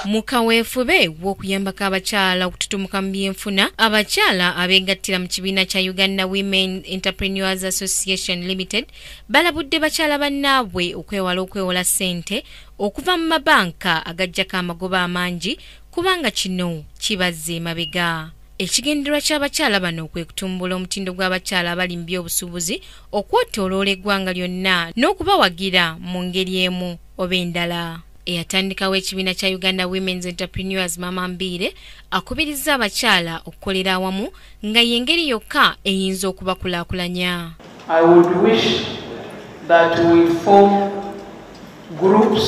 mu kaweefube w'okuyambako abakyala okututumuka mu byenfuna abakyala abeegattira mu kibiina kya uganda women entrepreneurs association limited balabudde bakyala bannaabwe okwewala okwewola ssente okuva mu mabanka agajjako amagoba amangi kubanga kino kibazza emabega Ekigendererwa ky'abakyala bano kwe kutumbula omutindo gw'abakyala abali mu by'obusuubuzi okwetooloola eggwanga lyonna n'okubawagira mu ngeri emu oba endala. Eyatandikawo ekibiina kya Uganda Women's Entrepreneurs Mama Mbiire akubirizza abakyala okukolera awamu nga y'engeri yokka eyinza okubakulaakulanya. I would wish that we form groups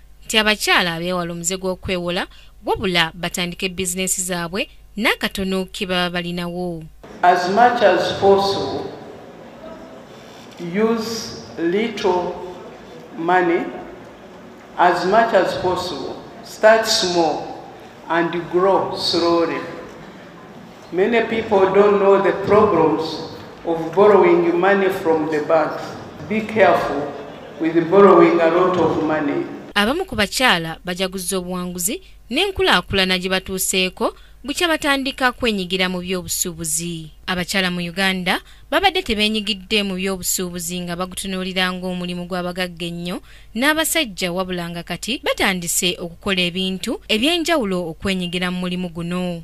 nti abakyala beewala omuze gw'okwewola wabula batandike bizinensi zaabwe n'akatono ke baba balinawo as much as possible use little money as much as possible start small and grow slowly Many people don't know the problems of borrowing money from the banks. Be careful with borrowing a lot of money. Abamu ku bakyala bajaguzza obuwanguzi n'enkulaakulana gye batuuseeko bukya batandika kwenyigira mu by'obusuubuzi. Abakyala mu Uganda babadde tebeenyigidde mu by'obusuubuzi nga bagutunuulira ng'omulimu gw'abagagga ennyo n'abasajja wabula nga kati batandise okukola ebintu eby'enjawulo okwenyigira mu mulimu guno.